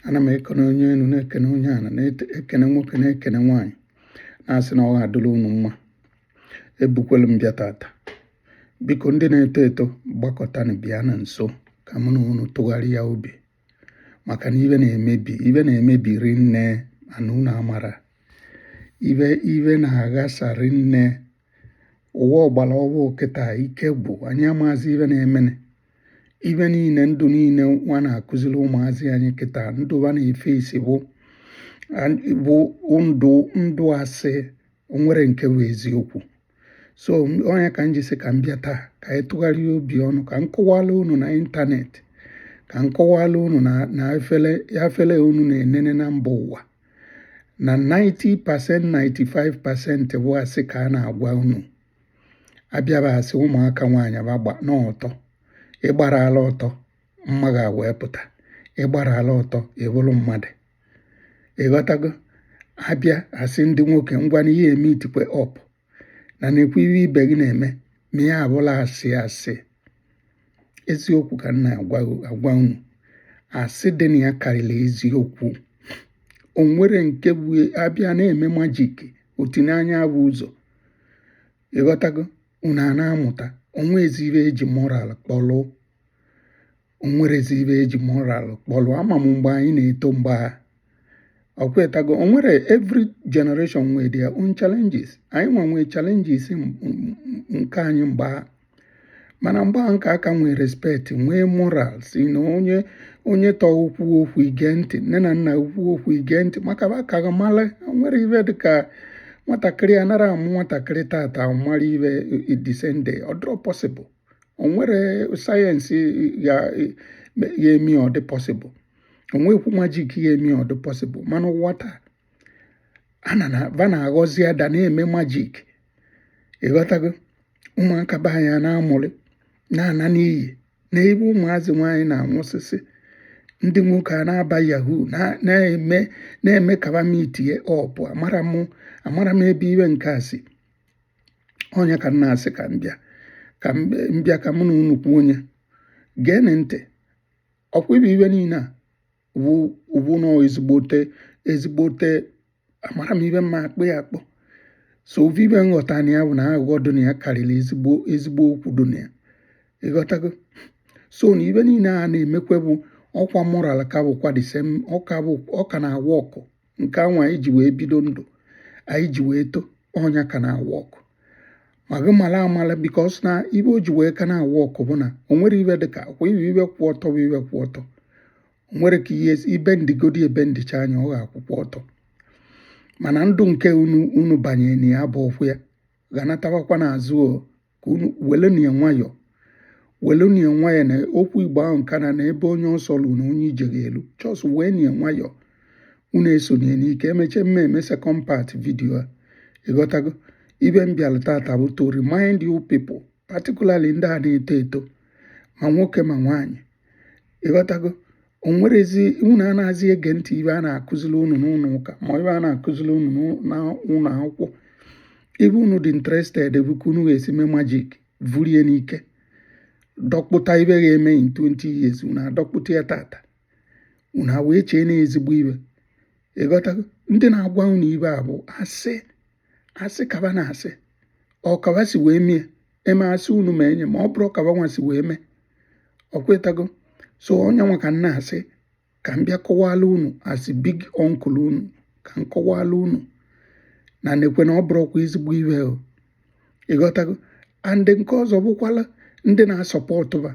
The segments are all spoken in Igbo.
ana m ekene onye enu na-ekene onye ana na-ekene nwoke na-ekene nwaanyị na-asị na ọ ga-adịrị unu mma ebukwelu m bịa tata biko ndị na-eto eto gbakọtanụ bịa na nso ka mụ na unu tụgharịa obi maka na ive na-emebi ive na-emebi rinne mana unu amara ive ive na-aghasa rinne ụwa ọgbara ọhụụ kịta ike gwụ anyị amaazị ive na-emene ive niile ndụ niile va na-akụziri ụmụazị anyị kịta ndụ va na-efe isi bụ bụ ndụ ndụ asị o nwere nke bụ eziokwu so ọ nya ka m ji sị ka m bịa taa ka anyị tụgharịa obi ọnụ ka m kọwala unu na internet ka m kọwala unu na efere unu na-enene na mba ụwa na 90% 95% bụ asị ka a na-agwa unu a bịa va asị ụmụaka nwaanyị gbabanụ ọtọ ị gbara ala ọtọ mma gị ewee pụta ị gbara ala ọtọ ị bụrụ mmadụ ịghọtago abịa asị ndị nwoke ngwanụ ị ya-emeetikwe up na na-ekwu ihe ibe gị na-eme ma ya abụla asị asị eziokwu ka m na-agwa unu asị dị na ya karịrị eziokwu o nwere nke bụ abịa na-eme magic otinye anya bụ ụzọ ịghọtago unu a na-amụta o nwezi ive eji moral kpọlụ o nwerezi ive eji moral kpọlụ ama m mgbe anyị na-eto mgbe a ọkwetago o nwere every generation nwee their own challenges anyị nwa nwee challenges m- m- m- nke anyị mgbe a mana mgbe a nke a ka nwee respect nwee moral sị na onye onye tọọ kwuo okwu i gee ntị nne na nna kwuo okwu i gee ntị maka va ka gị mara o nwere ive dịka nwatakịrị anara amụ nwatakịrị tata mara ive the same day ọ dịrọ possible o nwere science ị ya-eme ọ dị possible onwekwu magic ị ya-eme ọ dị possible mana ụwa taa va na-aghọzi ada na-eme magic ịghọtago ụmụaka be anyị na-amụrị na-ana n'iyi na ebe ụmụazị nwaanyị na-anwụsịsị ndị nwoke a na-aba yahoo na-eme na-eme ka va meetie up amara m amara m ebe ive nke a si ọ nya ka m na-asị ka m bịa ka m bịa ka mụ na unu kwuo onye geenị ntị ọkwa ive ive niile a bụ nnọọ ezigbote ezigbote amara m ive m ya-akpọ ya akpọ so ọ bụ ive m ghọta na ya bụ na aghụghọ dị na ya karịrị ezigbo ezigbo okwu dị na ya ịghọtago so na ive niile a na-emekwe bụ ọkwa moral ka bụkwa the same ọ ka na-awa ọkụ nke anwa anyị ji wee bido ndụ anyị ji wee to ọ nya ka na-awa ọkụ ma gị mala amala because na ibe o ji wee ka na-awa ọkụ bụ na o nwere ibe dị ka kwa ibe ibe kwụ ọtọ bụ ibe kwụ ọtọ o nwere ka ihe ibe ndịgodi ebe ndịcha anya ọ ga-akwụkwa ọtọ mana ndụ nke unu unu banye na ya bụ ọkwụ ya ga-anatabakwa n'azụ o ka unu welenu ya nwayọọ welenu ya nwayọọ na okwu igbo ahụ nke na na ebe onye ọsọ lu na onye ije ga-elu just wee nu ya nwayọọ unu esona ya n'ike emeche m emee second part video a ịghọtago ibe m bịara tata bụ to remind you people particularly ndị a na-eto eto ma nwoke ma nwaanyị ịghọtago o nwerezi unu anaghịzi ege ntị ibe a na-akụziri unu n'ụlọ ụka ma ibe a na-akụziri unu n'ụlọ akwụkwọ ibe unu dị interested bụ ka unu ga-esi mee magic vurie n'ike dọkpụta ibe ga-eme in 20 years unu adọkpụta ya tata unu ewee chee na ezigbo ibe ịghọtago ndị na-agwa unu ibe a bụ asị asị ka ba na-asị ọ ka ba si wee mee eme asị unu ma enye ma ọ bụrọ ka ba nwa si wee mee ọkwetago so ọ nya nwa ka m na-asị ka m bịa kọwala unu as big uncle unu ka m kọwala unu na nekwanụ ọ bụrọkwa ezigbo ibe ịghọtago and nke ọzọ bụkwala ndị na-asupport ba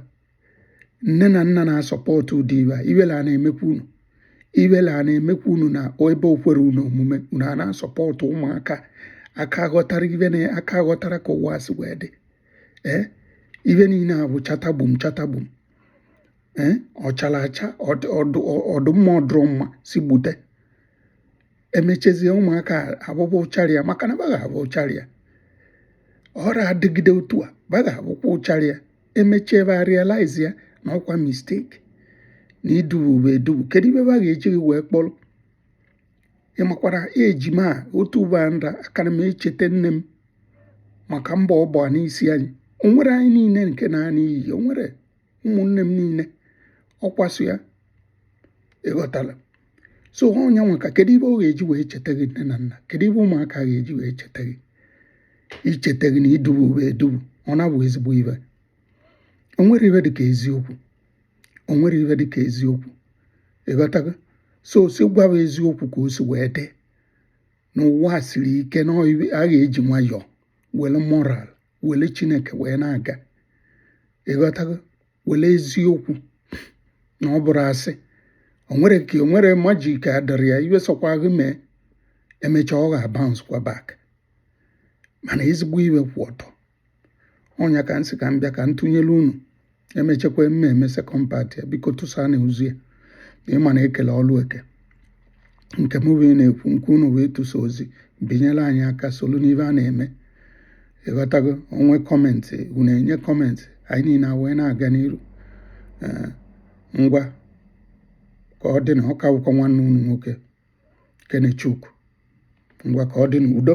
nne na nna na-asupport ụdị ibe a ibele a na-emekwa unu ibele a na-emekwa unu na ebe o kwere unu omume unu a na-asupport ụmụaka aka ghọtara ibe na aka ghọtara ka ụwa si wee dị ee eh? ibe niile a bụ chatagbum chatagbum ee eh? ọ chara acha ọ dụ mma ọ dụrọ mma si gbute emechezie ụmụaka abụbụ ụcharịa maka na ba ga-abụ ụcharịa ọra adịgide otu a ba ga-abụkwa ụcharịa emechie ba a realize ya na ọ kwa mistake na idubu ba edubu kedu ibe ba ga-eji gị wee kpọrọ ịmakwara ejima a otu ugbo a nra akara m echeta nne m maka mbọ ọ gba n'isi anyị o nwerọ anyị niile nke naa n'iyi o nwerọ ụmụnne m niile ọkwaso ya ịghọtala so ọ nya nwa ka kedu ibe ọ ga-eji wee cheta gị nne na nna kedu ibe ụmụaka ga-eji wee cheta gị icheta gị na idubu ba edubu ọ na-abụ ezigbo ibe o nwerọ ibe dịka eziokwu o nwerọ ibe dịka eziokwu ịghọtago so si gwa ba eziokwu ka o si wee dị na ụwa siri ike na a ga-eji nwayọọ were moral were chineke wee na-aga ịghọtago were eziokwu na ọ bụrọ asị o nwerọ ka o nwerọ magic adịrọ ya ibe sọkwa gị mee emechaa ọ ga-abounce kwa back mana ezigbo ibe kwụ ọtọ ọ nya ka m sị ka m bịa ka m tụnyere unu emechekwa m emee second part ya biko tụsanụ ozi a ịma na ekele ọlụ eke nke m wee na-ekwu nke unu wee tụsa ozi binyere anyị aka solu n'ife a na-eme ịghọtago o nwee comment unu enye comment anyị niile wee na-aga n'iru eh, ngwa ka ọ dịnụ ọ ka bụkwa nwanne unu nwoke Kenechukwu ngwa ka ọ dị n'udo